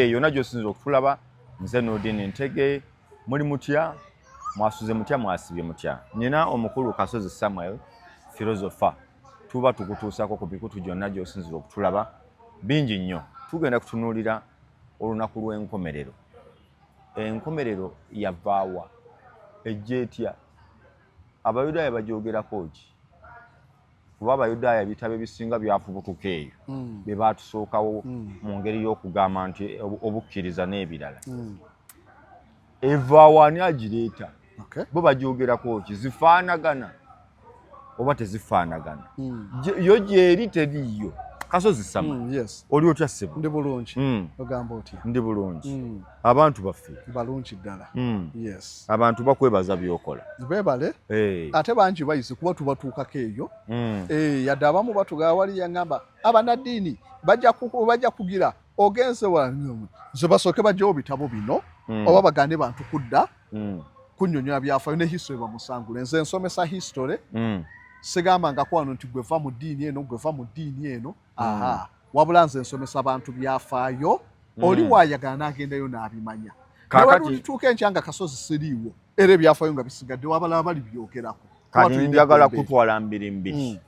Eh, yona gyosinza okutulaba nze nodini ntege muli mutya mwasuze mutya mwasibye mutya nina omukulu kasozi samuel philosopher tuba tukutuusako ku bikutu gyonna gyosinzira okutulaba bingi nnyo tugenda kutunuulira olunaku lw'enkomerero enkomerero yavaawa ejja etya abayudaaya bagyogerako ki kuba abayudaaya ebitabo ebisinga byafubutuka eyo mm. be baatusookawo mm. mu ngeri y'okugamba nti obukkiriza n'ebirala mm. evaawo ani agireeta bo bagyogerako ki zifaanagana oba tezifaanagana yo gyeri teriiyo kasozi sama oli otya ssebo ndi bulungi ogamba otya ndi bulungi abantu baffe balungi ddala mm. yes. abantu bakwebaza byokola bebale hey. ate bangi bayizi kuba tubatuukako eyo mm. hey, eh, yadde abamu batugaa wali yaŋamba abanaddiini bajja kugira ogenze nze basooke bajjawo bitabo bino mm. oba bagane bantu kudda mm. kunyonyola byafayo ne history bamusangule nze nsomesa history mm. sigambangako wano nti gweva mu ddiini eno gweva mu ddiini eno aha mm. wabula nze nsomesa bantu byafaayo mm. oli wayagala nagendayo nabimanya kakatituuka enkya nga kasozi siriiwo era ebyafaayo nga bisigadde wabalaba bali byogerako kati njagala kutwala mbiri mbiri mm.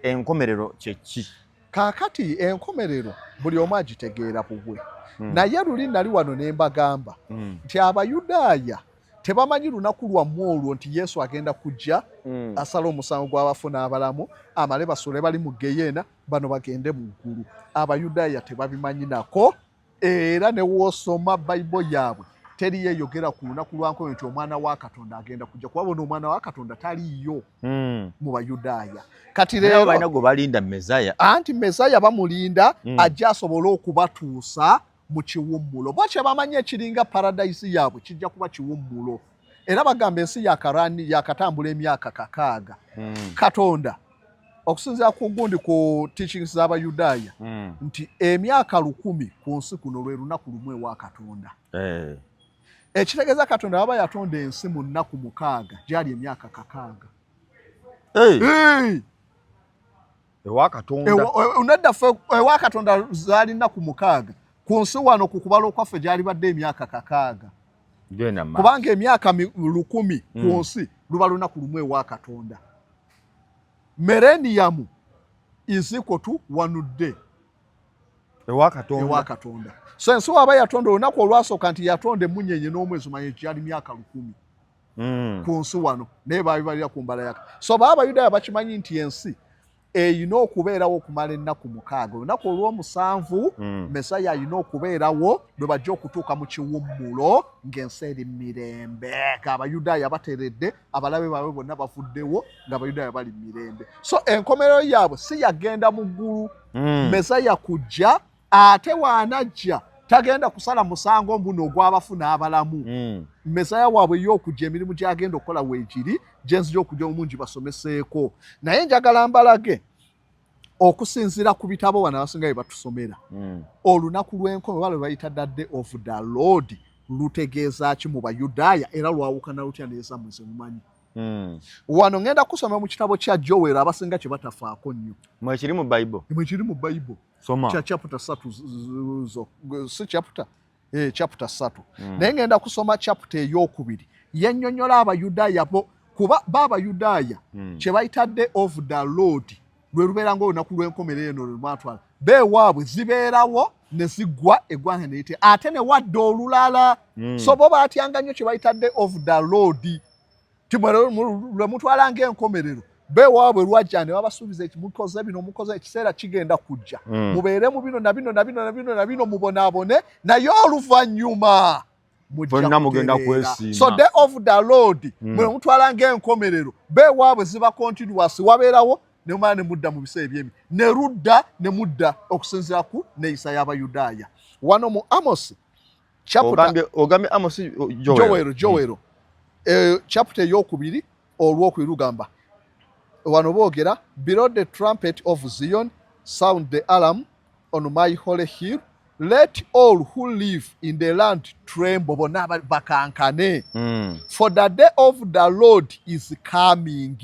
enkomerero kyeki kakati enkomerero buli omu agitegeera bubwe naye luli nali wano nembagamba nti abayudaaya tebamanyi lunaku lwammwe olwo nti yesu agenda kujja mm. asala omusango gw'abafu n'abalamu amale basule bali mu geyeena bano bagende mu ggulu abayudaaya tebabimanyi nako era ne woosoma bayibo yaabwe teri yeyogera ku lunaku lwankoyo nti omwana wa katonda agenda kujja kuba bona omwana wa katonda taliiyo mm. mu bayudaaya kati leerobalina gwe balinda mesaya anti mesaya bamulinda mm. ajja asobole okubatuusa mu kiwummulo bo kyebamanyi ekiringa paradayisi yaabwe kijja kuba kiwummulo era bagamba ensi yakarani yakatambula emyaka kakaaga hmm. katonda okusinzira ku gundi ku teachings z'abayudaaya hmm. nti emyaka lukumi ku nsi kuno lwe lunaku lumu ewa katonda eh. ekitegeeza katonda waba yatonda ensi mu nnaku mukaaga gyali emyaka kakaaga ewa katonda unadda fe ewa katonda zali na ku mukaga ku nsi wano ku kubalo kwa fe jali badde emyaka kakaga gena ma kubanga emyaka lukumi mm. ku nsi lubalo na kulumwe ewa katonda merenium is equal to one day ewa katonda ewa katonda so ensi waba yatonda olunaku olwasoka nti yatonda emunyenye n'omwezi manye jali myaka lukumi mm. ku nsi wano naye babibalira ku mbala yaka so baa abayudaaya bakimanyi nti ensi erina okubeerawo okumala ennaku mukaaga olunaku olw'omusanvu mm. mesaya alina okubeerawo lwe bajja okutuuka mu kiwummulo ng'ensi eri mirembe ng'abayudaaya bateredde abalabe baabwe bonna bavuddewo ng'abayudaaya bali mirembe so enkomerero yaabwe si yagenda mu ggulu mm. mesaya kujja ate waanajja tagenda kusala musango mbuno ogwabafu n'abalamu mm. mesaya waabwe yokujja emirimu gyagenda okukola wegiri gyenzija okujja omungi basomeseeko naye njagala mbalage okusinzira ku bitabo bano abasinga bye batusomera mm. olunaku lw'enkomo oba lwe bayita dadde of the lord lutegeeza ki mu bayudaaya era lwawukana lutya neeza muze mumanyi Hmm. wano ngenda kusoma mu kitabo kya jowero abasinga kye batafaako nnyo mwekiri mu bible mwekiri mu bible soma kya chapter satu zo si chapter eh chapter satu mm. naye ngenda kusoma chapter eyokubiri yenyonyola abayudaaya bo kuba baba yudaaya mm. kye bayita day of the lord lwe lubeera ngaolunaku lw'enkomerero eno lwe lwatwala beewaabwe zibeerawo ne ziggwa eggwanga ne lite ate ne wadde olulala mm. so bo baatyanga nnyo kye bayita day of the lord lwe mutwala ng'enkomerero bewaabwe lwajja ne babasuubiza eki mukoze bino mukoze ekiseera kigenda kujja hmm. mubeere mu bino na bino na bino na bino na bino mubonaabone naye oluvannyuma mujja mugenda kwesiima so day of the lord hmm. mwe mutwala ng'enkomerero bewaabwe ziba continuous wabeerawo ne mumala ne mudda mu biseera ebyemi ne ludda ne mudda okusinziira ku neeyisa y'abayudaaya wano mu amosi ogambye ogambye Amos Joel Joel hmm. eh chapter yokubiri olwokubiri lugamba wano boogera below the trumpet of Zion sound the alarm on my holy hill let all who live in the land tremble bona bakankane mm. for the day of the lord is coming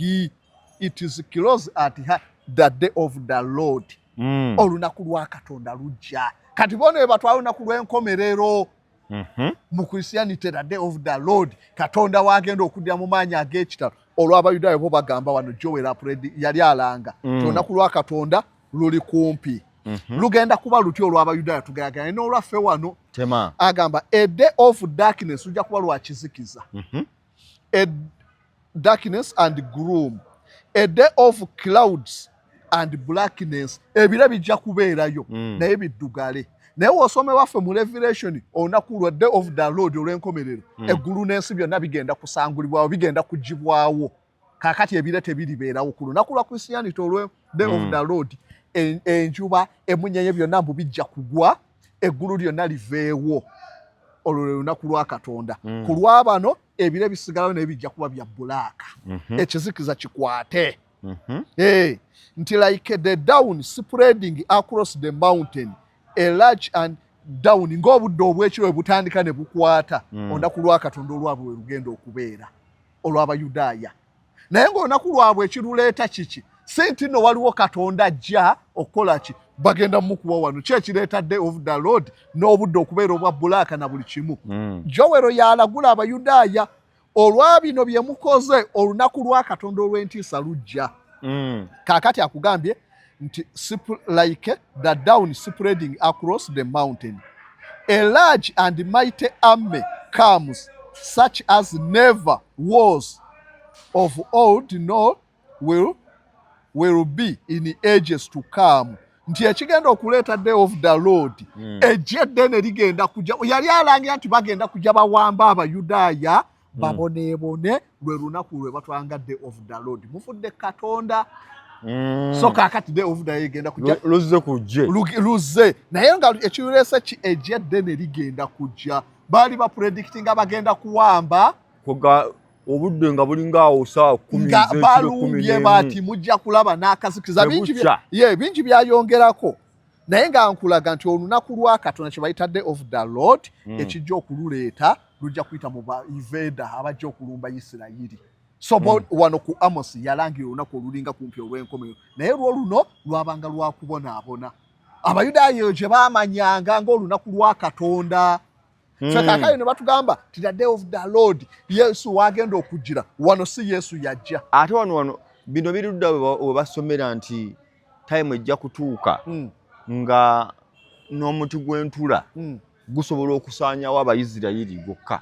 it is close at her the day of the lord mm. olunaku lwa katonda lujja kati bona ebatwa olunaku lw'enkomerero mm -hmm. mu christianity the day of the lord katonda wagenda okuddira mu maanyi ag'ekitalo olw'abayudaaya bo bagamba wano joel apred yali alanga mm. ti olunaku lwa katonda luli kumpi mm -hmm. lugenda kuba luty olw'abayudaaya tugayagana n'olwaffe wano agamba a day of darkness lujja kuba lwakizikiza mm -hmm. a darkness and groom a day of clouds and blackness ebira bijja kubeerayo mm. naye biddugale naye wosome waffe mu revelation olunaku lwa day of the lord olw'enkomerero mm. eggulu n'ensi byonna bigenda kusangulibwawo bigenda kugibwawo kakati ebire tebiribeerawo ku lunaku lwa christianity olwe day mm. of the lord enjuba emunyenye byonna mbu bijja kugwa eggulu lyonna liveewo olwo lwe lunaku lwa katonda mm. ku lwabano ebire bisigalawo naye bijja kuba bya bulaaka mm -hmm. ekizikiza kikwate mm -hmm. hey, eh, nti like the down spreading across the mountain a large and down ng'obudde obwekiro butandika ne bukwata mm. olunaku lwa katonda olwabwe we lugenda okubeera olw'abayudaaya naye ng'olunaku lwabwe ekiruleeta kiki si nti no waliwo katonda ajja okukola ki bagenda mukuwa wano ki ekireeta day of the lord n'obudde okubeera obwa bulaaka na buli kimu hmm. jowero yalagula abayudaaya olwa bino bye mukoze olunaku lwa katonda olw'entiisa lujja hmm. kaakati akugambye nti like the down spreading across the mountain a large and mighty army comes such as never was of old nor will, will be in ages to come nti ekigenda okuleeta day of the lord mm. ejje eddene ligenda kuja yali alangira nti bagenda kuja bawamba abayudaaya hmm. baboneebone lwe lunaku lwe batwanga day of the lord mufudde katonda hmm. so kakati day of the egenda kujja luzze kujje luzze naye nga ekireese ki egyedde ne ligenda kujja baali ba predictinga bagenda kuwamba obudde nga bulinga awo saa nga balumbye bati mujja kulaba n'akazikiza bingi byayongerako naye nga nkulaga nti olunaku lwa katonda kye bayita day of the lord mm. ekijja okululeeta lujja kuyita mu baiveda abajja okulumba isirayiri so mm. wano ku amos yalangira olunaku olulinga kumpi olw'enkomero naye lwo luno lwabanga lwakubonaabona abayudaaya eyo gye baamanyanga ngaolunaku lwa katonda Mm. Fe kakali ne batugamba ti the day of the Lord Yesu wagenda okujira wano si Yesu yajja. Ate wano wano bino birudda we basomera nti time ejja kutuuka mm. nga n'omuti gw'entula mm. gusobola okusaanyawo abayisirayiri gwokka.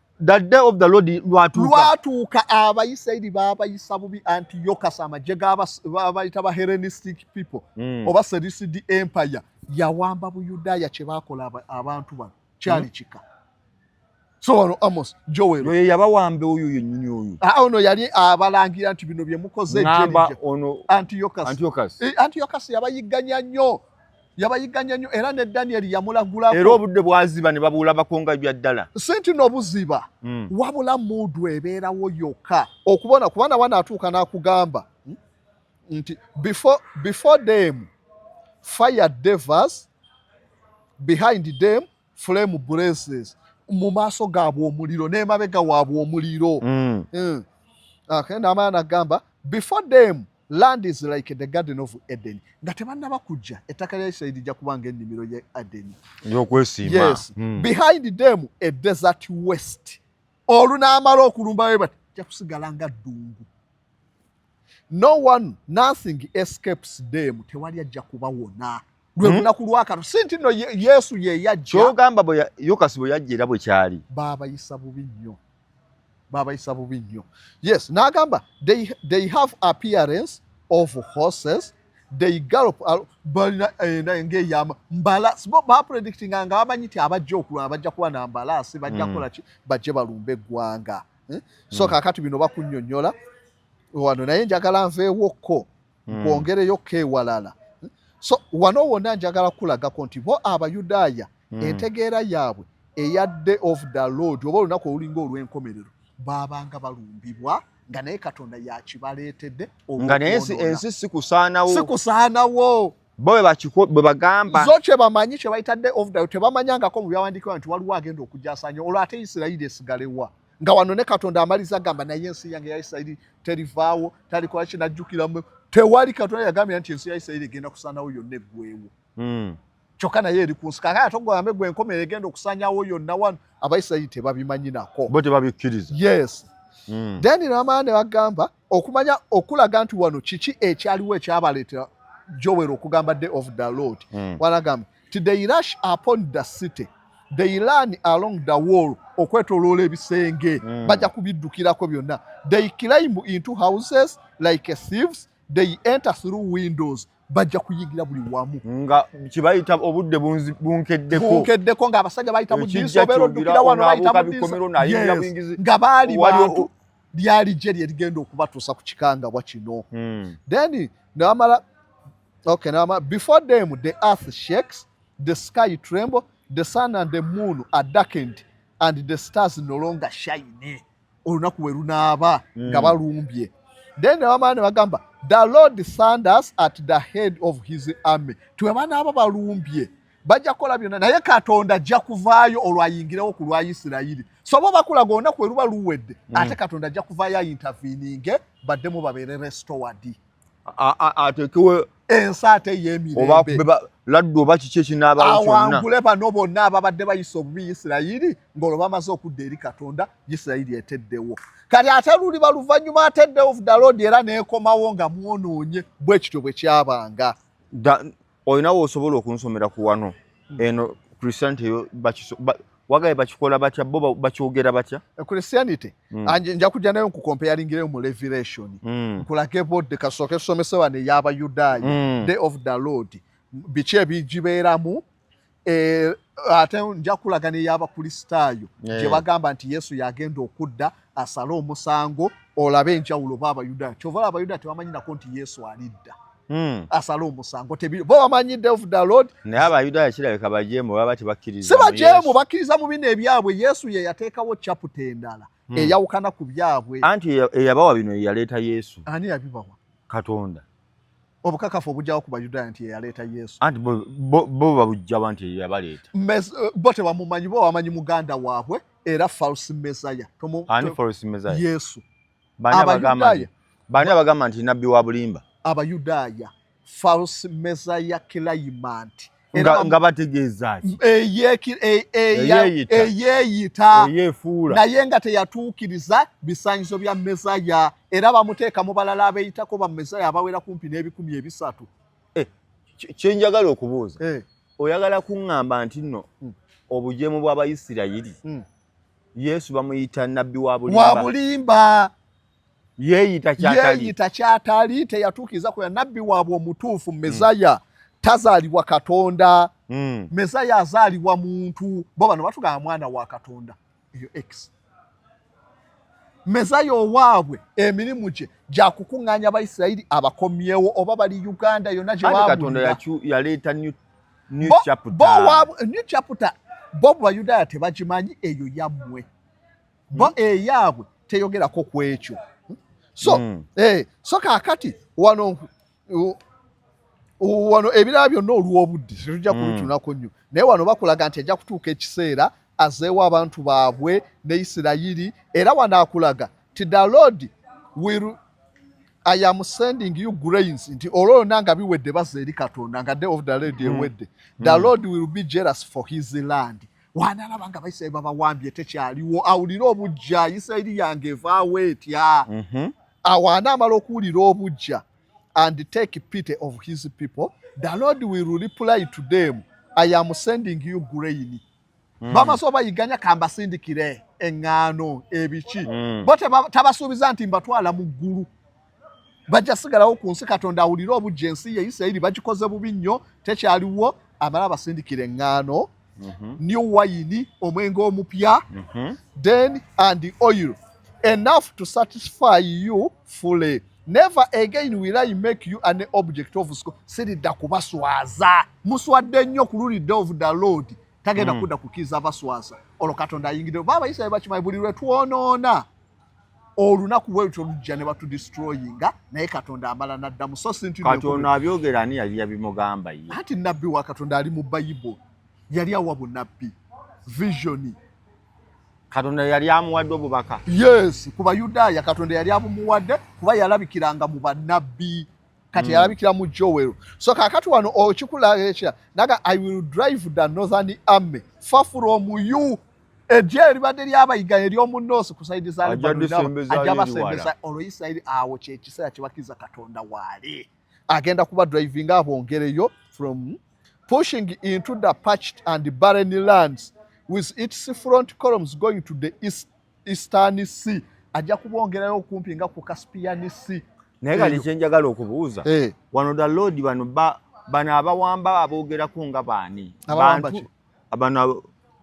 the day of the lord lwatuuka lwatuuka abayisirayiri baabayisa bubi antiyokas amagye gabayita ba herenistic people mm. oba serisidi empire yawamba buyudaaya kye baakola abantu bano kyali mm. kika so wano amos joel oyo yabawamba oyo yenyini oyo ah, ono yali abalangira nti bino bye mukoze antiyokas antiyokas yabayigganya nnyo yabayigganya nnyo era ne danyeri yamulagulako era obudde bwaziba ne babulabako nga bya ddala si nti nobuziba mm. wabula muudu ebeerawo yokka okubona kubana wanaatuuka n'akugamba hmm, nti before, before them fire devers behind them flame braces mu maaso gaabwe omuliro n'emabega waabwe omuliro mm. mm. okay, n'amala nagamba before them land is like the garden of eden nga tebannaba kujja ettaka lya isirairi lijja kuba nga ennimiro ya edeni ey'okwesimba yes. mm. behind them a desert west olunaamala okulumba we bati ja kusigala nga ddungu no one nothing escapes them tewali ajja kuba wona lwe hmm? lunaku lwakano si nti no yesu yeyajjakyogamba yokasi bwe yajja era bwe kyali baabayisa bubi nnyo baabayisa bubi nnyo yes n'agamba they, they have appearance of horses they gallop balina enda eh, ngeyama mbala sibo ba predicting nga bamanyi ti abajja okulwa abajja kuba na mbala si bajja mm. kola ki bajje balumbe gwanga eh? so mm. kakati bino bakunyonyola wano naye njagala nveewokko mm. kwongereyo kewalala eh? so wano wona njagala kulagako nti bo abayudaaya mm. entegeera yaabwe eya day of the lord oba olunaku olulinga olw'enkomerero baabanga balumbibwa mm. nga naye katonda yakibaleetedde nga naye ensi sikusaanawo sikusaanawo bo bwe bagamba zo kye bamanyi kye bayita day of day tebamanyangako mu byawandiikibwa nti waliwo agenda okujasanya olwo ate isirayiri esigalewa nga wano ne katonda amaliza gamba naye ensi yange ya isirayiri terivaawo talikola kinajjukiramu tewali katonda yagambira nti ensi ya isirayiri egenda kusaanawo yonna eggwewo hmm. kyokka naye eri ku nsi kakati ate ogwambe gwe enkomerero egenda okusanyawo yonna wano abaisirairi tebabimanyi nako bo tebabikkiriza yes mm. then namala ne bagamba okumanya okulaga nti wano kiki ekyaliwo ekyabaleetera jowero okugamba day of the lord mm. wanagamba ti they rush upon the city they learn along the wall okwetoloola ebisenge mm. bajja kubiddukirako byonna they climb into houses like thieves they enter through windows bajja kuyigira buli wamu nga kibayita obudde bunkeddekobunkeddeko nga abasajja bayita mu diiso obeera oddukira wano bayita mu diiso nga baali bantu lyali gye lye ligenda okubatuusa ku kikangabwa kino hmm. then newamala okay newamala before them the earth shakes the sky tremble the sun and the moon are darkened and the stars no longer shine olunaku we lunaaba mm. nga balumbye then nebamala ne bagamba the lord sanders at the head of his army tiwe banaaba balumbye bajja kukola byonna naye katonda ajja kuvaayo olwo ayingirewo ku lwa isirayiri soba bakulaga olunaku we luba luwedde mm. ate katonda ajja kuvaayo ayintavininge baddemu babeere restowadi atekewo ensi ate yemirembe laddu oba kiki ekinaabawo kyonna awangule bano bonna ababadde bayisa obubi isirayiri ng'olwo bamaze okudda eri katonda isirayiri eteddewo kati ate luli baluvannyuma ateddewo vudaloodi era neekomawo nga mwonoonye bwe kityo bwe kyabanga olina wosobola okunsomera ku wano hmm. eno christianity yo wagaye bakikola batya bo bakyogera batya eh, christianity hmm. nja kujja nayo nkukompeyalingireyo mu revelation hmm. nkulage bodde kasooke somese wano ey'abayudaaya day of the lord biki ebigibeeramu Eh, ate nja kulaga neyabakristaayo eh. gye bagamba nti yesu yagenda okudda asale omusango olabe enjawulo oba abayudaaya kyova ola abayudaaya tebamanyinako nti yesu alidda hmm. asale omusango bo bamanyi devdalod naye abayudaaya kirabika bajeemu baba tebakkiriza si bajeemu bakkiriza mu bino ebyabwe yesu ye yateekawo caputa endala hmm. eyawukana ku byabwe anti eyabawa bino yeyaleeta yesu ani yabibawa katonda obukakafu obujjawo ku bayudaaya nti yeyaleeta yesu anti bo babujjawa nti yeyabaleeta eh, bo tebamumanyi bo wamanyi muganda waabwe era false mesaya ani false mesaya yesu abayudaaya bani abagamba nti nabbi wa bulimba abayudaaya false messiah claimant nga bategeeza ki eyeeyita naye nga teyatuukiriza bisanyizo bya mesaya era bamuteeka mu balala abeeyitako ba mesaya abawera kumpi n'ebikumi ebisatu eh, kyenjagala okubuuza eh. oyagala kuŋŋamba nti nno hmm. obujeemu bw'abayisirayiri hmm. yesu bamuyita nabbi wa bulimba yeeyita kyatali teyatuukiriza ku nabbi waabwe omutuufu hmm. mezaya tazaalibwa katonda hmm. mezaya azaalibwa muntu bo bano batugamba mwana wa katonda eyo x mezaya owaabwe emirimu gye gyakukuŋŋaanya abaisirayiri abakomyewo oba bali uganda yonna gyewabuyaleeta new chapter bo bayudaaya tebagimanyi eyo yammwe bo hmm. eyaabwe teyogerako ku ekyo hmm? so mm. eh, so kaakati wano wano ebirala byonna olw'obudde tetujja hmm. kubitunako nnyo naye wano bakulaga nti ajja kutuuka ekiseera azeewo abantu baabwe ne isirayiri era wano akulaga ti the lord will i am sending you grains nti olwo lwonna nga biwedde baza eri katonda nga day of the lady ewedde the lord will be jealous for his land wanalaba nga abaisirairi babawambye tekyaliwo awulire obujja isirairi yange evaawo etya mhm. awo anaamala okuwulira obujja and take pity of his people the lord will reply to them i am sending you grain mm. bamaze obayiganya kambasindikire eŋŋaano ebiki mm. bo tabasuubiza nti mbatwala mu ggulu bajja sigalawo ku nsi katonda awulire obujja ensi ye isirairi bagikoze bubi nnyo tekyaliwo amala abasindikira eŋŋaano mhm. new wayini omwenge omupya mhm. then and oil enough to satisfy you fully never again will i make you an object of school siridda kubaswaza muswadde nnyo ku luli day of the lord tagenda mm. kudda kukiza abaswaza olwo katonda ayingidde baba isirairi bakimanyi buli lwe twonoona olunaku bwelutyo lujja ne batudistroyinga naye katonda amala naddamu so sintikatono abyogera ani yali yabimugamba ye anti nabbi wa katonda ali mu bayibo yali awa bunabbi visioni katonda yali amuwadde obubaka yes ku bayudaaya katonda yali abumuwadde kuba yalabikiranga mu banabbi kati mm. yalabikira mu jowero so kakati wano okikulaekya naga i will drive the northern army far from you ejje eribadde lyabayiga ery'omu noosi ku saidi za ajja basembeza olwo isirairi awo kyekiseera kyebakkiriza katonda waali agenda kuba drivinga abongereyo from pushing into the patched and barren lands with its front columns going to the east, eastern sea ajja kubongerayo okumpi nga ku caspian sea naye kati kyenjagala okubuuza eh. wano the lord bano bano abawamba aboogerako nga baani abana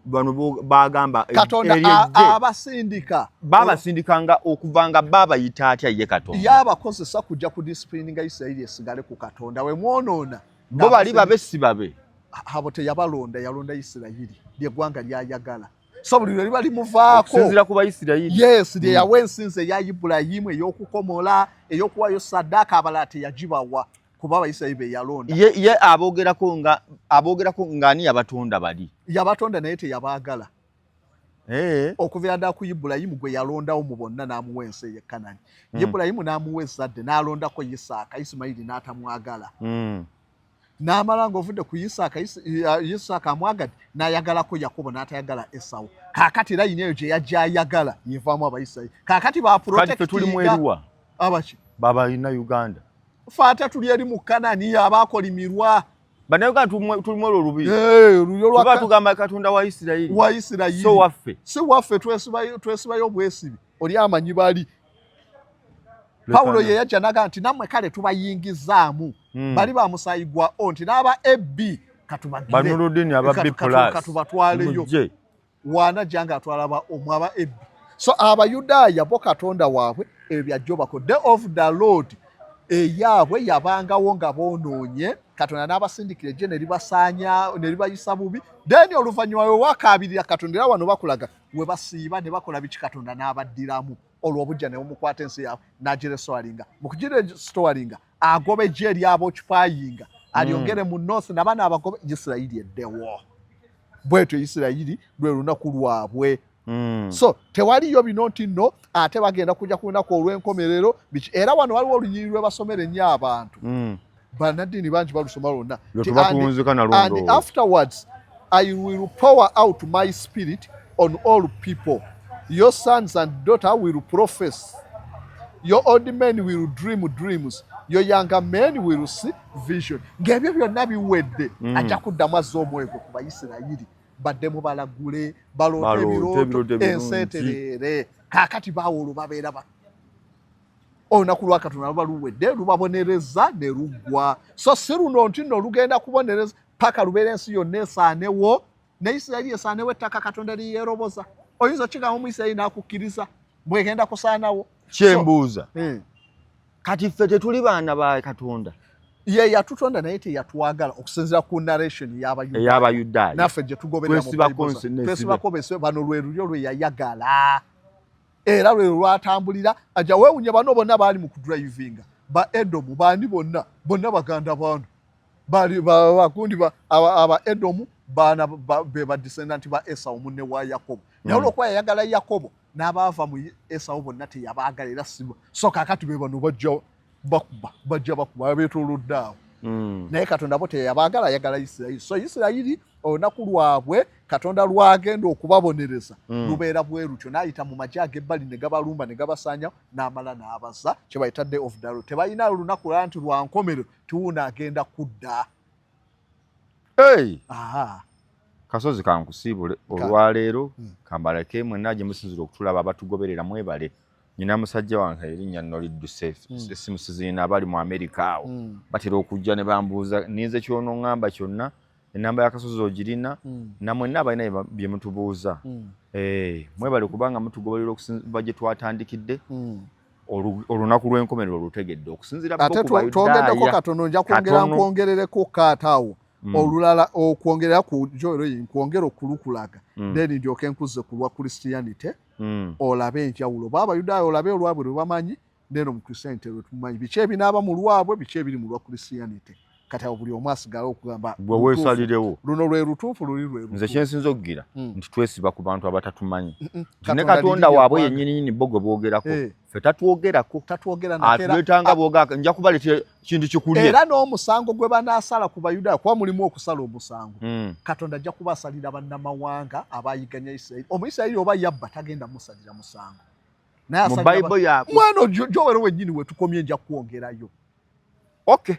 bano bagamba e- katonda abasindika babasindika nga okuva nga babayita atya ye katonda yabakozesa kujja ku disipulini nga isirairi esigale ku katonda we mwonoona bo bali babe si babe abo teyabalonda yalonda isirayiri lyegwanga lyayagala so buli lwe liba limuvaakosizira ku baisirayiri yes lye hmm. yawa ensinza eya ibulayimu ey'okukomola ey'okuwayo saddaaka abalala teyagibawa kuba abayisirayiri be yalonda ye, ye aboogerako nga aboogerako ng'ani yabatonda bali yabatonda naye teyabaagala eh. okuvira ddala ku ibulayimu gwe yalondawo mu bonna n'amuwa ensi eye kanani mm. ibulayimu n'amuwa ezzadde n'alondako isaaka isimayiri n'atamwagala mm. n'amala ng'ovudde ku isaaka isaaka amwagadde n'ayagalako yakobo n'atayagala esawo kaakati era yina eyo gye yajja ayagala yevaamu abayisirayiri kaakati bapurotekituli mweruwa abaki babalina uganda fe ate tuli eri mu kanani abaakolimirwa banauganda tulimu olwo olubiiba tugamba katonda wa isirayiri wa isirayiri so waffe si waffe twesibayo obwesibi oli amanyi bali pawulo ye yajja naga nti nammwe kale tubayingizaamu hmm. bali ba musaayi gwa o nti n'aba ab katubagirekatubatwaleyo waanajja nga atwala ba omu aba ebbi so abayudaaya bo katonda waabwe ebyo byajjobako day of the lord eyaabwe yabangawo nga boonoonye katonda n'abasindikira ejje ne libasaanya ne libayisa bubi then oluvannyuma we wakaabirira katonda era wano bakulaga we basiiba ne bakola biki katonda n'abaddiramu olwo obujja ne bumukwata ensi yaabwe n'agirestowalinga mu kugirestowalinga agoba eggye eryaba okipayinga alyongere mm. mu north nabana abagoba isirairi eddewo bwetyo isirairi lwe lunaku lwabwe Mm. so tewaliyo bino nti no ate bagenda kuja ku lunaku olw'enkomerero biki era wano waliwo olunyiri lwebasomera ennyo abantu mm. banaddiini bangi balusoma lwonna afterwards I will pour out my spirit on all people. Your sons and daughter will profess. Your old men will dream dreams. Your younger men will see vision. Ng'ebyo byonna biwedde mm. ajja kuddamu azza omwoyo gwe ku Bayisirayiri baddemu balagule baloote ebirooto ensi etereere kaakati baawolo babeera ba olunaku lwakatonda luba luwedde lubabonereza ne luggwa so si luno nti no lugenda kubonereza paka lubeera ensi yonna esaanewo ne isirayiri esaanewo ettaka katonda liyeroboza oyinza okigamba omu isirayiri nakukkiriza bwegenda kusaanawo kyembuuza so, eh. kati ffe tetuli baana ba katonda ye yatutonda naye teyatwagala okusinzira ku narration yabayudaaya naffe gyetugobererasibako bese bano lwe lulyo lwe yayagala era lwe lwatambulira aja wewunya bano bonna baali mu kudrivinga ba edomu baani bonna bonna baganda baano bali bakundi ba, aba, aba edomu baana ba, be badesendant ba esawu munne wa yakobo naye mm. olwokuba yayagala yakobo n'abaava mu esawu bonna teyabaagala era siba so kakati be bano bajja bakuba bajja bakuba abeetolodde awo mm. naye katonda bo teyabaagala ayagala isirayiri so isirayiri olunaku lwabwe katonda lwagenda okubabonereza mm. lubeera bwe lutyo n'ayita mu magye ag'ebbali ne gabalumba ne gabasaanyawo n'amala n'abaza kye bayita day of dalo tebalina lunaku lala nti lwa nkomerero tuuna agenda kudda kasozi kankusiibule olwaleero hmm. kambaleke mwenna gye musinzira okutulaba abatugoberera mwebale nyina musajja wange erinnya nno lidduse hmm. essimu siziina abali mu amerika awo hmm. batera okujja ne bambuuza ninze kyonoŋŋamba kyonna enamba yakasozi ogirina mm. namwenna abalina byemutubuuza mm. eh, mwebale kubanga mutugobalira okusinva gye twatandikidde mm. olunaku lw'enkomerero olutegedde okusinziratwongeddeko katono nja kwongera nkwongerereko kaataawo mm. olulala okwongerera ku joero yi nkwongera okulukulaga mm. then ndyoke nkuze ku lwa christianity mm. olabe enjawulo oba abayudaaya olabe olwabwe lwe bamanyi neeno mu christianity lwetumanyi biki ebinaaba mu lwabwe biki ebiri mu lwa christianity kati awo buli omu asigala okugamba gwe wesalirewo luno lwe lutuufu luli lwe nze kyensinza okugira hmm. nti twesiba ku bantu abatatumanyi ne katonda waabwe yenyininyini bo gwe boogerako eh. fe tatwogerako atwetanga bwogaka nja kubaleetera kintu kikulye era n'omusango gwe banaasala ku bayudaaya kuba mulimu okusala omusango hmm. katonda ajja kuba asalira bannamawanga abayiganya isirairi omuisirairi oba yabba tagenda musalira musango mu bible yaabwe mwana ojo jowero wenyini wetukomye nja kwongerayo okay